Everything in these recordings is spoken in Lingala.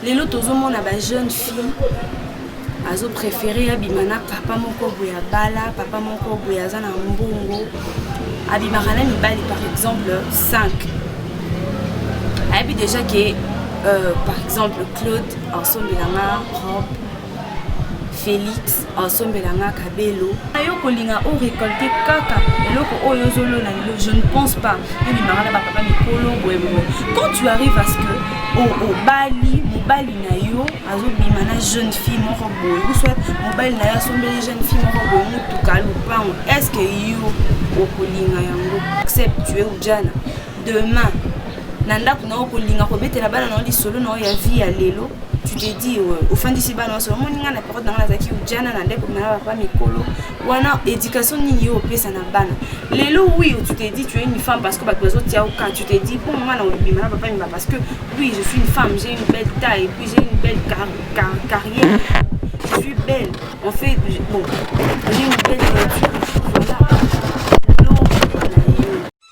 lelo tozomona ba jeune fille azo préféré abima na papa moko boye abala papa moko boye aza na mbongo abimaka na mibali par exemple 5 ayebi déjà ke euh, par exemple claude asombelanga robe Felix osombela nga kabelo yo kolinga o récolter kaka eloko oyo ozolona lelo je ne pense pas ebimaka na bapapa mikolo boye boye quand tu arrives à ce que obali mobali na yo azobima na jeune fille moko boye uswat mobali na yo asombeli jeune fille moko boye motuka lopango est ce que yo okolinga yango accepte tu es ujana demain na ndako na yo kolinga kobetela bana na yo lisolo na yo ya vie ya lelo tu te dis euh, ofandisi bana nyonso omoni ngai na periode na ngai nazalaki ujana na ndeko na papa mikolo wana éducation nini yo opesa na bana lelo oui tu te dis tu es une femme parce que bato bazotia oka tu te dis mpo mama na obima na papa miba parce que oui je suis une femme j'ai une belle taille puis j'ai une belle car car carrière je suis belle en fait bon j'ai une belle voiture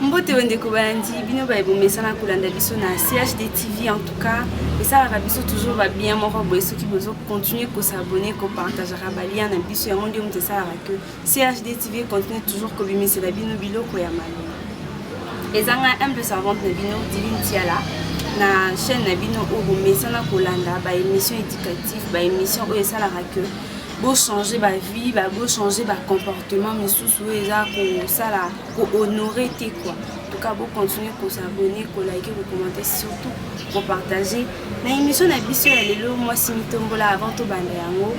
mbote bandeko balandi bino baye bomesana kolanda biso na chd tv en tout cas esalaka biso toujours babien moko boye soki bozo continue kosabone kopartagaka balien na biso yango nde moto esalaka ke chd tv continue toujours kobimisela bino biloko ya malonga ezanga humble servante na bino divine tiala na chaîne na bino oyo bomesana kolanda baémission éducative baémission oyo esalaka ke bo changer ba vie ba bo changer ba comportement misusu oyo eza kosala ko honore te quoi tout cas bo continuer ko s'abonner ko liker ko commenter surtout ko partager na émission na biso ya lelo mwasi mitombola avant tobanda yango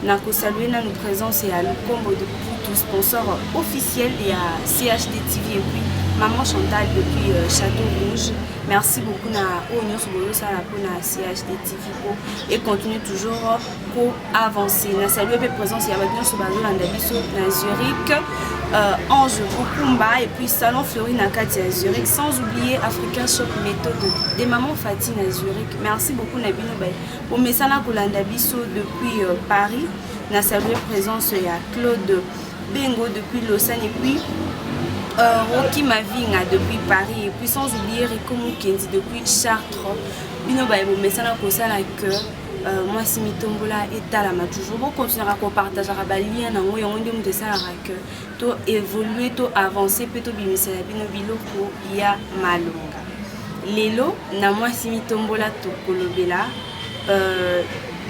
na kosalue nanu présence ya lukombo de putu sponsor officiel ya chd tv epuis maman chantal depuis euh, château rouge merci beaucoup na oyo nyonso boyosala mpona chd tv po econtinue toujours ko avance na salue mpe présence ya bato nyonso bazolanda biso na zurich euh, ange kokumba et puis salon fleuri na kati ya zurich sans oublier africain shop méthode de maman fati na zurich merci beaucoup na bino baye bomesana kolanda biso depuis euh, paris na salue présence ya claude bengo depuis lausanne et puis euh, Rocky Mavinga depuis Paris et puis sans oublier Rico Mukendi depuis Chartres. Bino baye bomesana kosala que Euh, mwasi mitombola etalama toujours bokontinaka kopartageaka balien yango yango nde moto esalaka ke to évolue to avance mpe tobimisela bino biloko ya malonga lelo na mwasi mitombola tokolobela euh,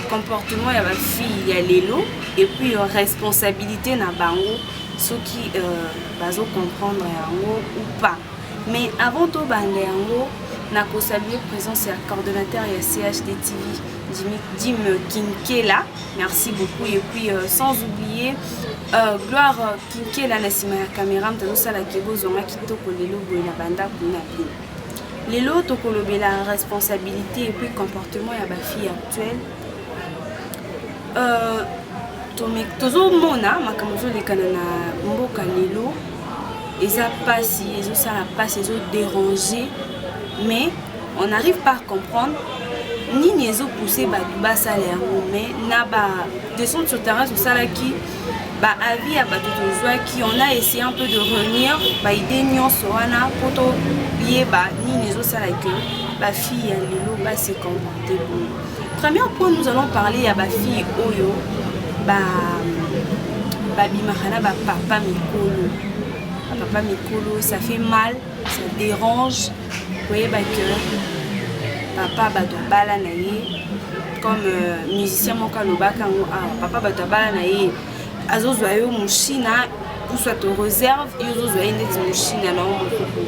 comportement ya bafille ya lelo epuis euh, responsabilité na bango soki euh, bazocomprendre yango ou pas Mais avant to banda yango na ko saluer présence ya coordonnateur ya CHD TV Jimmy Jim Kinkela merci beaucoup et puis euh, sans oublier euh, Gloire Kinkela na sima ya caméra mtazo sala ke bozonga kitoko lelo boye na banda kuna bino lelo tokolobela responsabilité et puis comportement ya ba filles actuelles Euh, tozomona makambo ezolekana na mboka lelo eza mpasi ezosala mpasi ezoderange mais on arrive pas comprendre nini ezopousse bato basala yango mais na ba descente sur terrain tosalaki baavis ya bato tozwaki on a essaye un peu de reunir baide nyonso wana mpo toyeba nini ezosala ke bafille ya lelo base comporte boye Premier point nous allons parler ya ba filles oyo ba babimaka na ba papa mikolo. Ba papa mikolo ça fait mal, ça dérange. Koyeba que papa bato abala na ye comme euh, musicien moko alobaka yango awa ah, papa bato abala na ye azozwa yo moshina soit oreserve yo ozozwa ye ndeti moshina na yo mokoko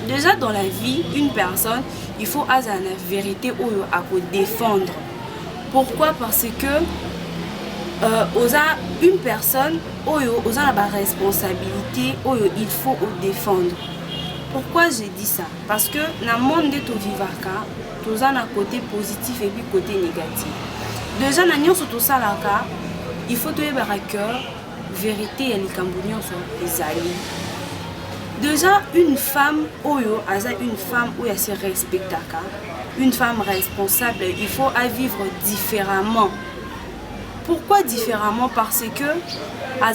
déjà dans la vie une personne il faut azala na verite oyo akodefendre pourquoi parce que euh, oza une personne oyo oza na baresponsabilité oyo il faut odefendre pourquoi je dis ça parce que na monde nde tovivaka toza na côté positif epuis côté négatif déjà na nyonso tosalaka il faut toyebaka que verite ya likambo nyonso ezali deja une femme oyo aza une femme oyo ase respectaka une femme responsable il faut avivre différemment pourquoi différemment parce que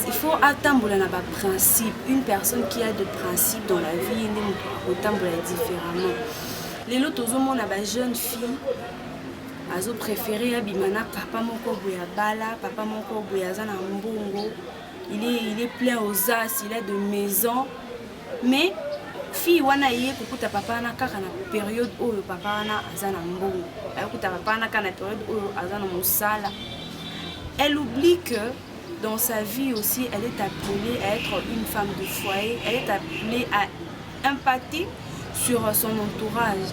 il faut atambola na baprincipe une personne qui a de principe dans la vie nde moto akotambola différemment lelo tozomona bajeune fille azo prefere abima na papa moko boye abala papa moko boye aza na mbongo il est, il est plein aux as il a de maison mais fille wana eye kokuta papa wana kaka na periode oyo papa wana aza na mbongo akokuta papa wana kaka na periode oyo aza na mosala elle oublie que dans sa vie aussi, elle est appelée à être une femme de foyer, elle est appelée à impacter sur son entourage.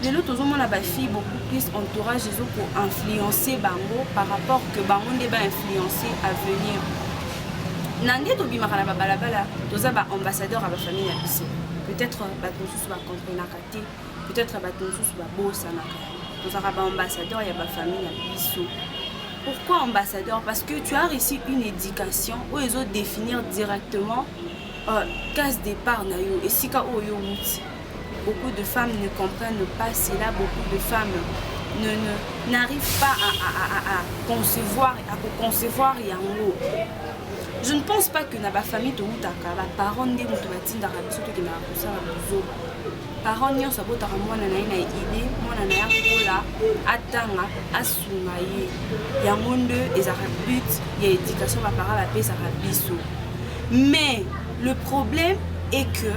Les autres ont la fille beaucoup plus entourage, ils ont pour influencer Bango par rapport que Bango n'est pas influencé à venir. Nande to bimaka na babalabala toza ba ambassadeur ya ba famille na biso peut-être bato mosusu bacomprenaka te peut-être bato mosusu babosanaka tozalaka baambassadeur ya bafamille na biso pourquoi ambassadeur parce que tu as reçu une éducation oyo ezo définir directement euh, case départ na yo esika oyo outi beaucoup de femmes ne comprennent pas cela beaucoup de femmes ne n'arrivent pas à, à, à, à concevoir à concevoir yango je ne pense pas que na bafamille toutaka baparent nde moto batindaka biso tokendaka kosala bozoba parent nyonso abotaka mwana na ye na ide mwana na ye akola atanga asunga ye yango nde ezalaka but ya éducation baparent bapesaka biso mais le problème est que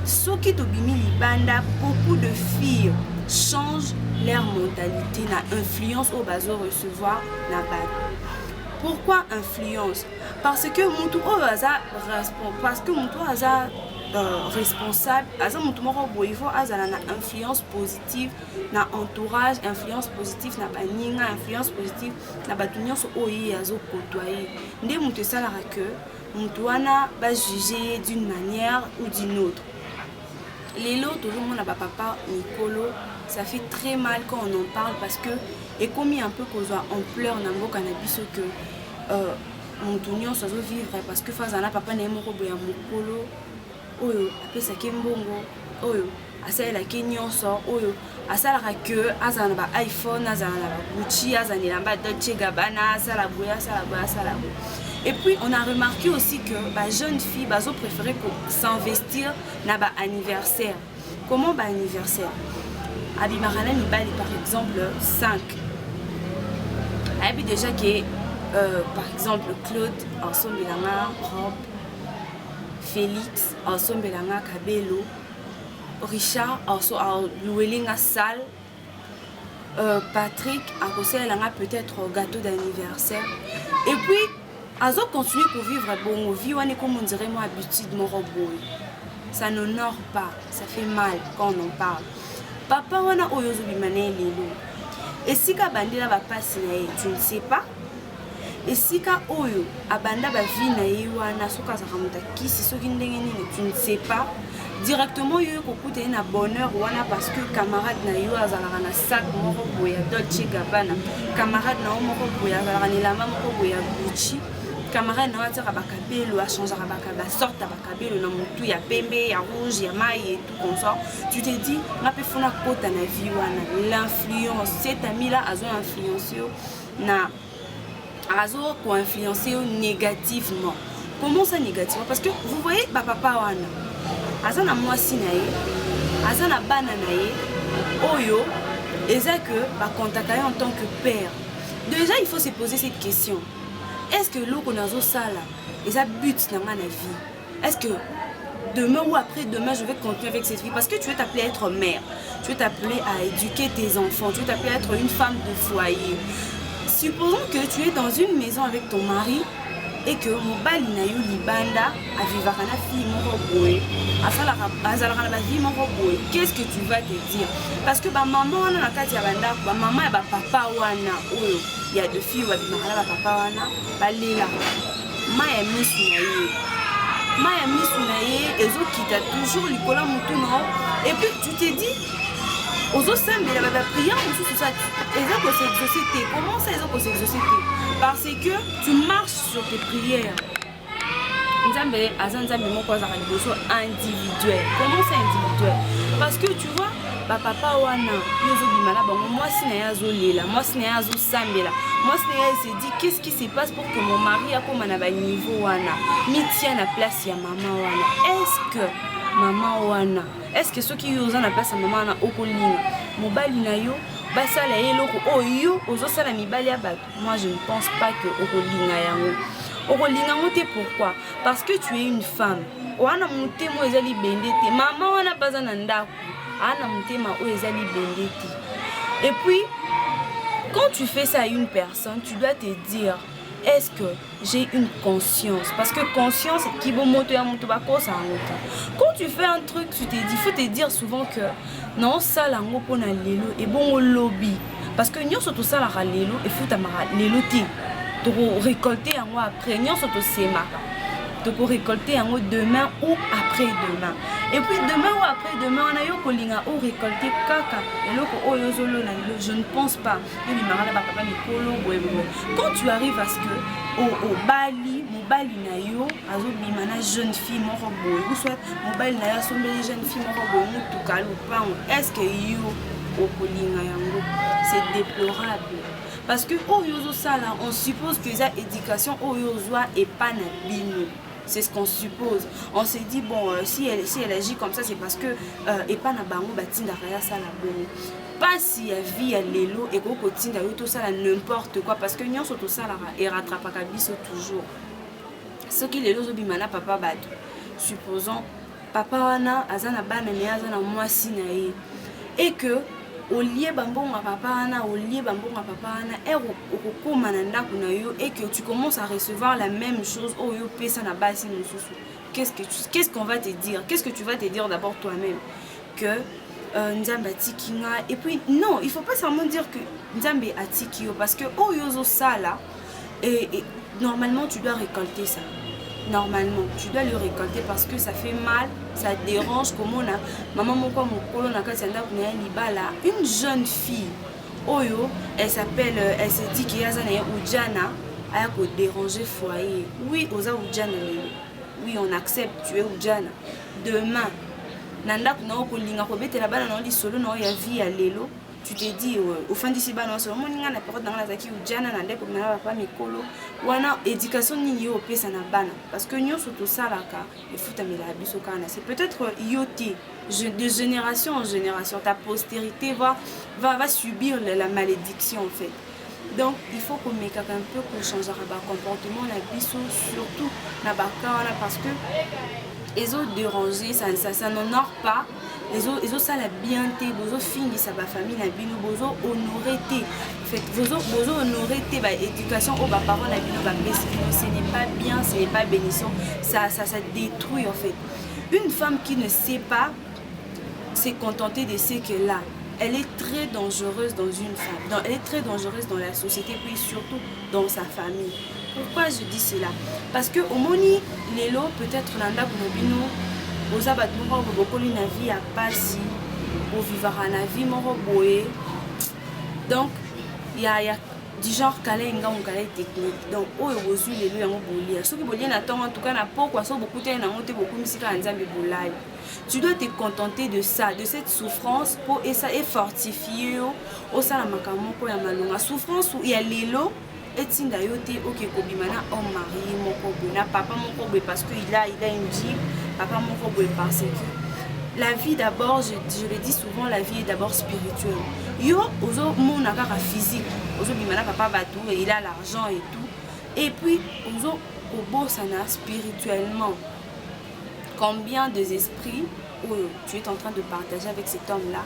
soki tobimi libanda beaucoup de filles change leur mentalité na influence oyo bazo recevoir na bato pourquoi influence parce que motu oyo aza parce que motu oyo aza Euh, responsable aza moto moko boye faut azala na influence positive na entourage influence positive na baninga influence positive na bato nyonso oyo ye azokotoye nde moto esalaka que moto wana bajuge ye d'une manière ou d'une autre lelo tozomona bapapa mikolo ça fait très mal quand on en parle parce que ekomi un peu kozwa ampleur na mboka na biso que euh, mutu nyonso azo vivre parce que faza na papa na ye moko boya mokolo oyo apesaki mbongo oyo asalelaki nyonso oyo asalaka ke azala na ba iphone azala na ba gucci azala na elamba dolce gabana asala boye asala boye asala boye et puis on a remarqué aussi que ba jeunes filles bazo préférer ko s'investir na ba anniversaire comment ba anniversaire abimaka na mibali par exemple 5 ayebi déjà ke euh, par exemple claude asombela nga robe félix asombela nga kabelo richard aluweli nga salle euh, Patrick akosalela nga peut-être gâteau d'anniversaire et puis azo continuer kovivre bongo vie wana ekomi ondire mwa habitude moko boye ça n'honore pas ça fait mal quand on en parle papa wana oyo ozobima na ye lelo esika abandela bapasi na ye tu ne sais pas esika oyo abanda ba vie na ye wana soki azalaka moto ya kisi soki ndenge nini tu ne sais pas directement yo ekokuta ye na bonheur wana parce que camarade na yo azalaka na sac moko boye ya dolce gabbana camarade na yo moko boye azalaka na elamba moko boye ya gucci camarade na yo atiaka bakabelo achangeaka basorte ya bakabelo na motu ya pembe ya rouge ya mai et tout comme ça tu te dis nga mpe fona kota na vie wana l'influence setamila azo influence yo na azo ko influencer yo négativement comment ça négativement parce que vous voyez ba papa wana aza na mwasi na ye aza na bana na ye oyo eza que bacontacta ye en tant que père déjà il faut se poser cette question est ce que eloko nazosala eza but na ngai na vie Est-ce que demain ou après demain, je vais continuer avec cette vie Parce que tu veux t'appeler à être mère, tu veux t'appeler à éduquer tes enfants, tu veux t'appeler à être une femme de foyer. Supposons que tu es dans une maison avec ton mari et que mobali na yo libanda avivaka na fille moko boye asalaka azalaka na bavie moko boye qu'est-ce que tu vas te dire parce que bamama wana na kati ya bandako bamama ya bapapa wana oyo ya de fille babimaka na bapapa wana balelaka mai ya misu na ye mai ya misu na ye ezokita toujours likolo ya motu na yo epuis tu te dis ozosambela ba baprière mosusu sa eza koseexauce te comment ça eza koseexauce te parce que tu marches sur tes prières nzambe aza nzambe moko azaka liboso individuel comment ça individuel parce que tu vois bapapa wana yo ozobima na bango mwasi na ye azolela mwasi na ye azosambela mwasi na ye esedi qu'est ce qui se passe que mon mari akoma na baniveau wana mitia na place ya mama wana est-ce que mama wana est-ce que soki yo oza na place ya mama wana okolinga mobali na yo basala ye eloko oyo oh, yo ozosala mibali ya bato moi je ne pense pas que okolinga yango okolinga yango te pourquoi parce que tu es une femme wana motema oyo eza libende te mama wana baza na ndako aa na motema oyo eza libende te et puis quand tu fais ça à une personne tu dois te dire est-ce que j'ai une conscience parce que conscience kibomoto ya moto bakosa yango te quand tu fais un truc tu te dis faut te dire souvent que naosala yango mpo na lelo ebongo lobi parce que nyonso tosalaka lelo efutamaka lelo te tokorecolte yango après nyonso tosemaka tokorecolte yango demain ou après demain et puis demain ou après demain wana yo kolinga orecolte kaka eloko oyo ozolona lelo je ne pense pas bobimaka na bapapa mikolo boye boye quand tu arrives à ce que obali mobali na yo azobima na jeune fille moko boye ou soit mobali na yo asombeli jeune fille moko boye motuka lopango est ce que yo okolinga yango c'est déplorable parce que oyo ozosala on suppose que eza éducation oyo ozwa epa na bino c'est ce qu'on suppose on se dit bon euh, si, elle, si elle agit comme ça c'est parce que euh, epa na bango batindaka ya sala bongo pasi ya vie ya lelo ekoki kotinda yo tosala n'importe quoi parce que nyonso tosalaka erattrapaka biso toujours soki lelo ozobima na papa bato supposons papa wana aza na bana naye aza na mwasi na ye et que olie bambongo ya papa wana olie bambongo ya papa wana ere okokóma na ndako na yo et que tu commences à recevoir la même chose oyo yo opesa na basi mosusu qu'est-ce qu'on qu va te dire qu'est-ce que tu vas te dire d'abord toi-même que euh, nzambe atiki nga et puis non il faut pas seulement dire que nzambe atiki yo parce que oyo oh, ozosala et, et normalement tu dois récolter ça normalement tu dois le récolter parce que ça fait mal ça dérange komona mama moko mokolo na kati ya ndako na ye libala une jeune fille oyo oh, elle s'appelle euh, elle se dit que aza na ye ujana aya kodéranger foyer oui oza ujana lelo oui on accepte tu es ujana demain na ndako na yo kolinga kobetela bana na yo lisolo na yo ya vie ya lelo tu te dis euh, ofandisi bana nyonso omoni ngai na periode na ngai nazalaki ujana na ndeko na papa mikolo wana éducation nini yo opesa na bana parce que nyonso tosalaka efutamelaka biso kaka na se peut-être euh, yo te de génération en génération ta postérité va, va, va subir la, la malédiction en fait donc il faut komekaka un peu kochangeaka bacomportement na biso surtout na baka wana parce que ezo déranger ça, ça, ça n'honore pas ezosala ezo bien te bozofingisa bafamille na bino bozohonore te bozohonore te baéducation oyo baparent na bino bapesi bino ce n'est pas bien ce n'est pas bénissant ça, ça, ça détruit en fait une femme qui ne sait pas se contenter de ce qu'elle a elle est très dangereuse dans une femme dans, elle est très dangereuse dans la société puis surtout dans sa famille pourquoi je dis cela parce que omoni lelo peut-être na ndako na bino boza bato moko bobokoli na vie ya pasi bovivaka na vie moko boye donc ya, ya du genre kala engango kala technique donc oyo bozwi lelo yango bolia soki bolie na ntongo en tout cas na pokwa soki bokutani na yango te bokumisi kaka nzambe bolai tu dois te contenter de ça de cette souffrance mpo esa efortifie yo osala makambo moko ya malonga souffrance ya lelo etinda yo te oke kobima na homme marie moko boye na papa moko boye parce que il a il a une jeep papa moko boye parce que la vie d'abord je, je le dis souvent la vie est d'abord spirituelle yo ozomona kaka physique ozobima na papa bato il a l'argent et tout et puis ozo kobosana spirituellement combien des esprits oyo tu es en train de partager avec cet homme là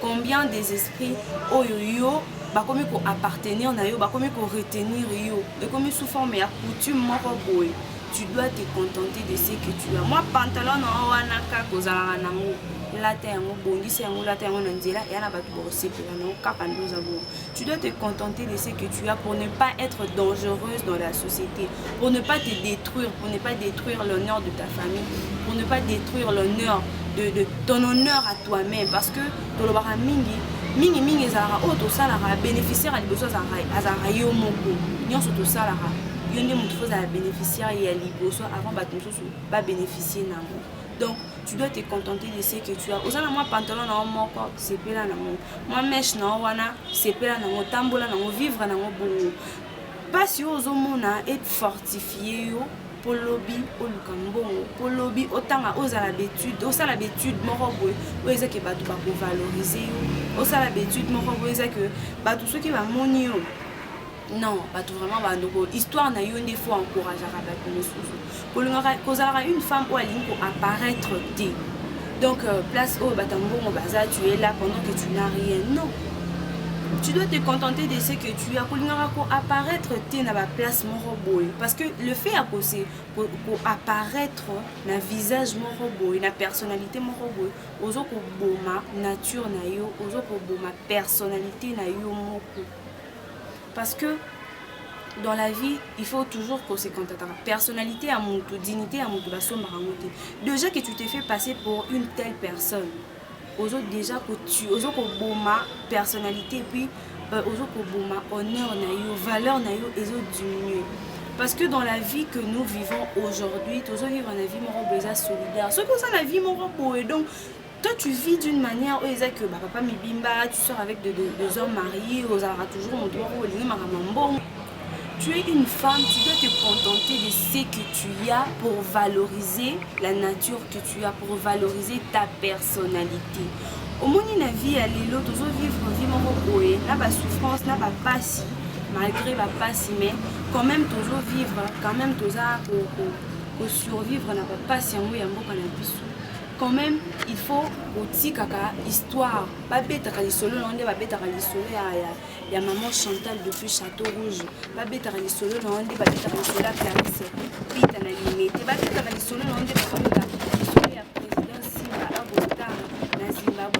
combien des esprits oyo yo bakomi koappartenir na yo bakomi koretenir yo ekomi sous forme ya coutume moko boye tu dois te contenter de ce que tu as mwa pantalon na yo wana kaka ozalaka nango lata yango bongisa yango lata yango na nzela eya na bato bakosepela nango kaka nde oza bongo tu dois te contenter de ce que tu as pour ne pas être dangereuse dans la société, pour ne pas te détruire, pour ne pas détruire l'honneur de ta famille, pour ne pas détruire l'honneur de, de, ton honneur à toi-même. Parce que tolobaka mingi, mingi mingi ezalaka oyo tosalaka bénéficiaire ya liboso azalaka yo moko nyonso tosalaka yo nde motu fozala bénéficiaire ya liboso avant bato mosusu babénéficie nango donc tu dois te contenter de ce que tu as oza na mwa pantalon na yo moko sepela na moko mwa meshe na yo wana sepela na yango tambola na yango vivre na yango bongo mpasi oyo ozomona efortifie yo mpo lobi oluka mbongo mpo lobi otanga ozala betude osala betude moko boye oyo eza ke bato bakovalorize yo osala betude moko boye eza ke bato soki bamoni yo non bato vraiment bandoko histoire na yo nde fo encourageaka bato mosusu kolingaka kozalaka une femme oyo alingi koapparaître te donc euh, place oyo bato ya mbongo baza tu es là pendant que tu n'as rien non tu dois te contenter de ce que tu as kolingaka koapparaître te na baplace moko boye parce que le fait ya kose koapparaître na visage moko boye na personnalité moko boye ozo koboma nature na yo ozo koboma personnalité na yo moko parce que dans la vie il faut toujours qu'on se contataka personnalité ya mutu dignité ya mutu basombaka yango te déjà que tu te fais passer pour une telle personne ozo déjà kotu ozo koboma personnalité puis euh, ozo koboma honneur na yo valeur na yo ezo diminuer parce que dans la vie que nous vivons aujourd'hui tozovivre na vie moko boye eza solidaire soki oza na vie moko boye donc Toi, tu vis d'une manière oyo eza que bapapa mibimba, tu sors avec des de, de hommes mariés, ozalaka toujours moto moko olingi makambo ya mbongo. Tu es une femme, tu dois te contenter de ce que tu as pour valoriser la nature que tu as, pour valoriser ta personnalité. omoni na vie ya lelo tozovivre vie moko boye na basouffrance na bapasi malgré bapasi mais quand même tozovivre quand même toza kosurvivre na bapasi yango ya mboka na biso quand même il faut kotikaka histoire babetaka lisolo na yo nde babetaka lisolo ya, ya, ya maman chantal depuis château rouge babetaka lisolo na yo nde babetaka lisolo ya clarisse pita na limete babetaka lisolo na yo nde babetaka lisolo ya président simba abotama na zimbabwe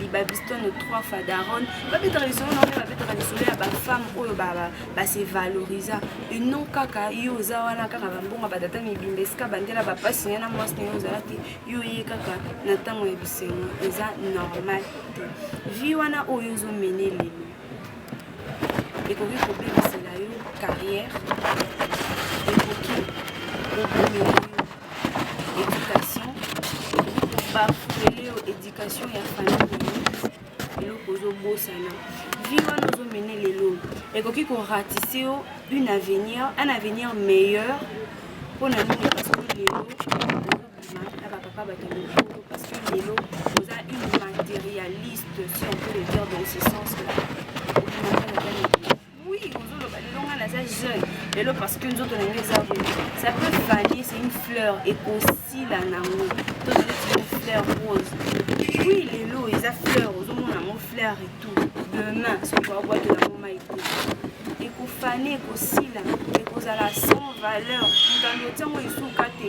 libabistono 3 fois daronne babetaka lisolo na oyo babetaka lisolo ya bafemme oyo base valorisa et non kaka yo oza wana kaka bambongo batata mibimba esika bandela bapasi naye na mwasi naye ozala te yo ye kaka na ntango ya bisengo eza normal te vi wana oyo ozomene lelo ekoki kobebisela yo carrière ekoki kobomela yo éducation bafele yo éducation ya famille eloko ozobosana vie wana ozomene lelo ekoki koratise yo une avenir un avenir meilleur mpo na nini parce que lelo na ba papa ba kende kolo parce que lelo oza une matérialiste si on peut le dire dans ce sens là oui ozoloba lelo nga naza jeune lelo parce que nzoto na ngai eza boye ça peut faner c'est une fleur ekosila nango to neti fleur rose oui lelo eza fleur ozomona yango fleur et tout demain soki babwaki yango mai te ekofane ekosila ekozala sans valeur moto alotiango esuka te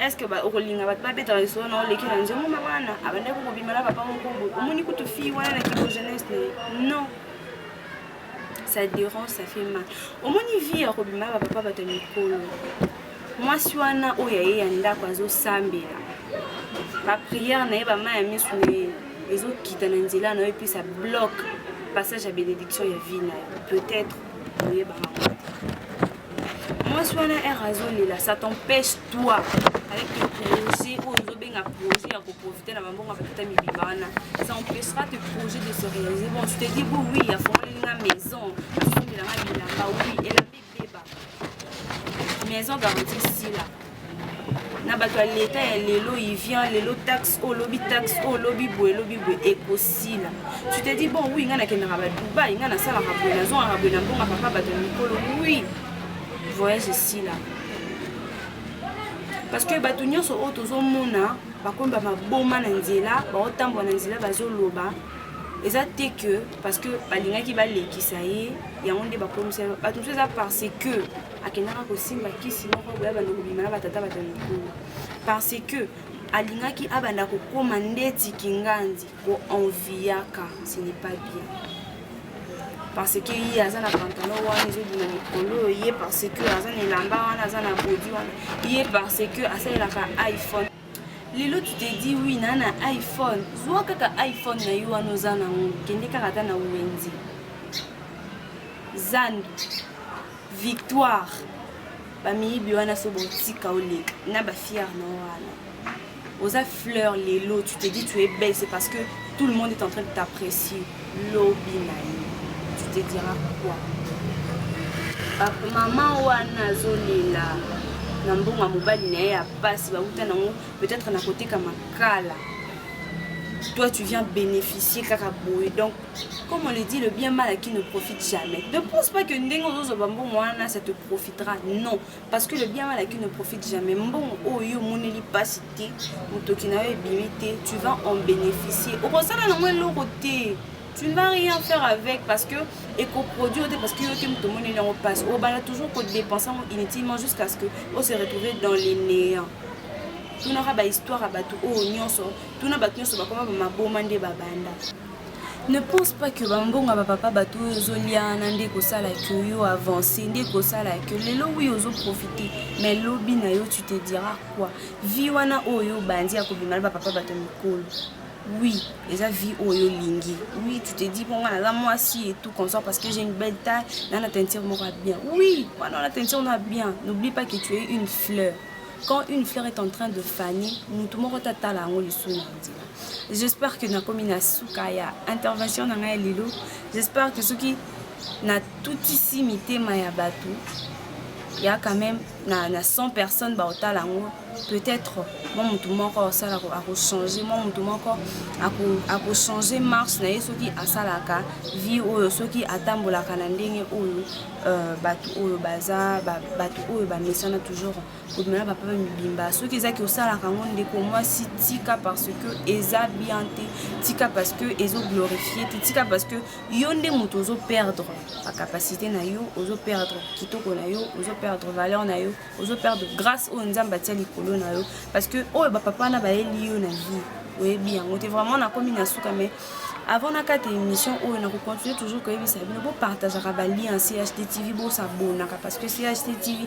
est-ce que okolinga bato babetaka lisolo na oleki na nzembo ma wana abandaki kokobima na papa moko boye omoni kutu fille wana na kilo jeunesse na ye non ça dérange ça fait mal omoni vie ya kobima na bapapa bato ya mikolo mwasi wana oyo aye ya ndako azosambela bapriere na ye bama ya miso na ye ezokita na nzela na yo epesa bloc passage ya bénédiction ya vie na yo peut-être oyebaka mwasi wana ere azolela ça t'empêche toi avec le projet oyo ozobenga projet ya koprofite na bambongo ya batata mibimba wana ça empêchera te projet de se réaliser bon tu te dis bon oui afongoli nga maison asombela nga bilamba oui elamba ebeba maison garantie sila na bato ya leta ya lelo ivian lelo taxe oyo lobi taxe oyo lobi boye lobi boye ekosila tu te dis bon wi ngai nakendaka badubai ngai nasalaka boye nazongaka boye na mbongaka kaka bato ya mikolo wi voyage esila parce que bato nyonso oyo tozomona bakomba maboma na nzela baotambola na nzela bazoloba eza te que parce que balingaki balekisa ye yango nde bakomisa bato mosusu eza parce que akendaka kosimba kisi moko boya banda kobima na batata bato ya mikolo parce que alingaki abanda kokoma ndeti kingandi koenviyaka ce n'est pas bien parce que ye aza na pantalon wana ezobima mikolo oyo ye parce que aza na elamba wana aza na bodi wana ye parce que asalelaka iphone lelo tu te dis oui naa na iphone zwa kaka iphone na yo wana oza nango kende kaka ata na wenze zando Victoire ba miyibi wana so botika oleka na ba fière na wana oza fleur lelo tu te dis tu es belle c'est parce que tout le monde est en train de t'apprécier lobi na yo tu te diras quoi maman wana azolela na mbongo ya mobali na ye ya pasi bauta nango peut-être na koteka makala toi tu viens bénéficier kaka boye donc comme on le dit, le bien mal acquis ne profite jamais. Ne pense pas que Ndengo Zozo Bambo Moana, ça te profitera. Non. Parce que le bien mal acquis ne profite jamais. Mbon Oyo Mouneli Pasité, Mutokinawe Bimité, tu vas en bénéficier. Au constat, là, non, l'eau côté. tu ne vas rien faire avec parce que ekoproduit te parce que yo te moto omoni yango mpasi obanda toujours kodépense yango inutilement jusqu'à ce que ose retrouver dans les néant tunaka bahistoire ya bato oyo nyonso tuna bato nyonso bakoma bamaboma nde babanda Ne pense pas que ba mbongo ya ba papa bato oyo ozoliana nde ekosala que yo avance nde ekosala que lelo wi ozo profite mais lobi na yo tu te dira quoi vie wana oyo obandi ya kobima na ba papa bato mikolo oui eza vie oyo olingi oui tu te dis mpo ngai naza mwasi et tout comme ça parce que j'ai une belle taille na na teinture moko ya bien oui wana wana teinture moko ya bien n'oublie pas que tu es une fleur quand une fleur est en train de faner motu moko te atala yango lisusu na nzela J'espère que nakomi na suka ya intervention na ngai lelo. J'espère que soki natutisi mitema ya bato ya quand même na, na 100 personnes baotala yango peut-être mwa motu moko osala akochange mwa motu moko akochange marche na ye soki asalaka vie oyo soki atambolaka na ndenge oyo euh, bato oyo baza bato oyo bamesana toujours komela ba papa mibimba soki eza ke osalaka yango ndeko mwasi tika parce que eza bien te tika parce que ezo glorifie te tika parce que yo nde moto ozo perdre ba capacité na yo ozo perdre kitoko na yo ozo perdre valeur na yo ozo perdre grâce oyo nzambe atia likolo na yo parce que oyo ba papa wana bayeli yo na vie oyebi yango te vraiment nakomi na suka mais avant nakata émission oyo oh, nakocontinue toujours koyebisa bino bopartageaka balien chttv bosabonaka parce que chttv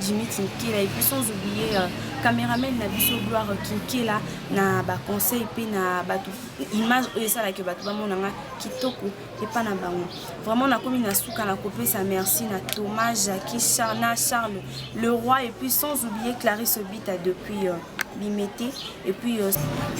Jimmy Kinkela et puis sans oublier euh, cameraman na biso Gloire Kinkela na ba conseils pe na bato image oyo esalaki bato bamona nga kitoko epa na bango vraiment nakomi na suka na kopesa merci na Thomas Jackie Charna Charles le roi et puis sans oublier Clarisse Obita depuis euh, limete epuis yo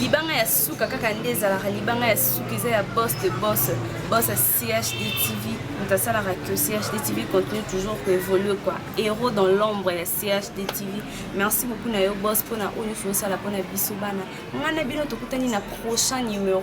libanga ya suka kaka nde ezalaka libanga ya suka eza ya bos de bos bos ya chd tv moto asalaka que chd tv continue toujours koévolue quoi héros dans l'ombre ya chd tv merci beaucoup na yo bos mpona oyo nyonso osala mpona biso bana ngai na bino tokutani na prochain numéro